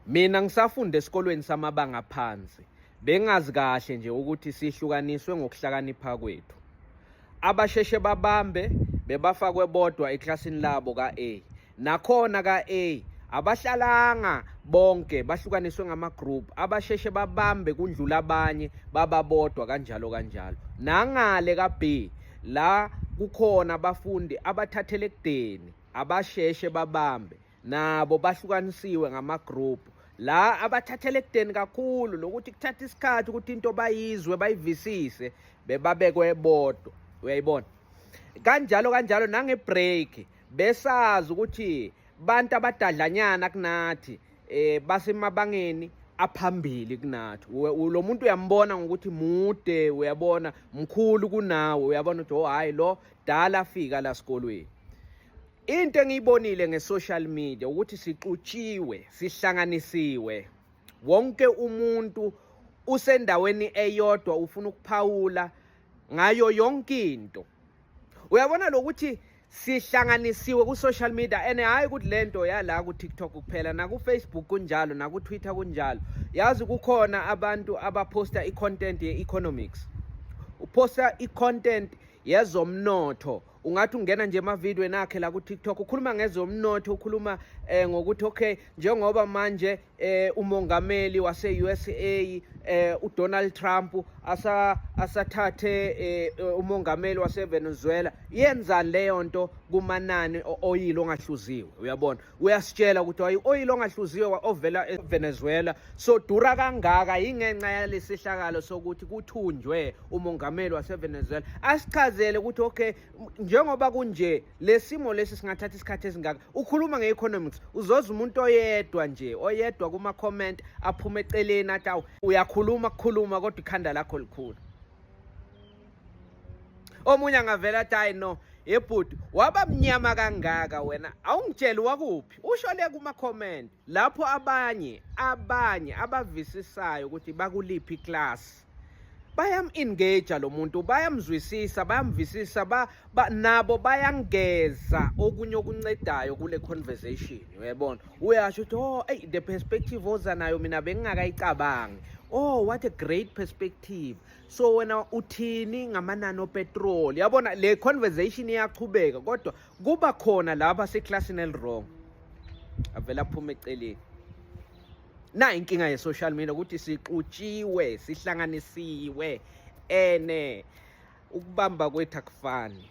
Mina ngisafunda esikolweni samabanga phansi bengazi kahle nje ukuthi sihlukaniswe ngokuhlakanipha kwethu. Abasheshe babambe bebafakwe bodwa eklasini labo ka-A. Nakhona ka-A abahlalanga bonke bahlukaniswe ngama-group abasheshe babambe kundlula abanye bababodwa kanjalo kanjalo. Nangale ka-B la kukhona abafundi abathathele ekudeni abasheshe babambe nabo bahlukanisiwe ngamagroup la abathathele ekudeni kakhulu nokuthi kuthatha isikhathi ukuthi into bayizwe bayivisise bebabekwe bodwa uyayibona kanjalo kanjalo nangebreak besazi ukuthi bantu abadadlanyana kunathi eh basemabangeni aphambili kunathi lo muntu uyambona ngokuthi mude uyabona mkhulu kunawe uyabona ukuthi oh hayi lo dala afika la sikolweni Into engiyibonile nge-social media ukuthi sixutshiwe, sihlanganisiwe. Wonke umuntu usendaweni eyodwa ufuna ukuphawula ngayo yonke into. Uyabona lokuthi sihlanganisiwe ku-social media and hhayi ukuthi le nto yala ku-tiktok kuphela naku-facebook kunjalo naku-twitter kunjalo yazi kukhona abantu abaphosta i-content ye-economics uphosta i-content yezomnotho ungathi ungena nje emavideo enakhe la ku-tiktok ukhuluma ngezomnotho ukhuluma eh, ngokuthi okay njengoba manje eh, umongameli wase-usa eh, udonald trump asa, asathathe eh, umongameli wasevenezuela yenzani leyo nto kumanani oyile ongahluziwe uyabona uyasitshela ukuthi wayi-oyili ongahluziwe ovela evenezuela so dura kangaka yingenxa yalesihlakalo sokuthi kuthunjwe umongameli wasevenezuela asichazele ukuthi okay njengoba kunje le simo lesi singathatha isikhathi esingaka ukhuluma nge-economics uzoza umuntu oyedwa nje oyedwa kuma-comment aphume eceleni athi awu uyakhuluma kukhuluma kodwa ikhanda lakho likhulu omunye angavela athi hayi no yebhuti waba mnyama kangaka wena awungitsheli wakuphi ushole kuma-comment lapho abanye abanye abavisisayo ukuthi bakuliphi iklasi bayam-engage lo muntu bayamzwisisa bayamvisisa ba, ba, nabo bayangeza okunye okuncedayo kule conversation uyayibona uyasho ukuthi oh hey, the perspective oza nayo mina bengingakayicabangi oh what a great perspective so wena uthini ngamanani opetrol yabona le conversation iyaqhubeka kodwa kuba khona laba seclassini elirong avela aphume eceleni na inkinga ye-social media ukuthi sixutshiwe sihlanganisiwe ene ukubamba kwethu akufani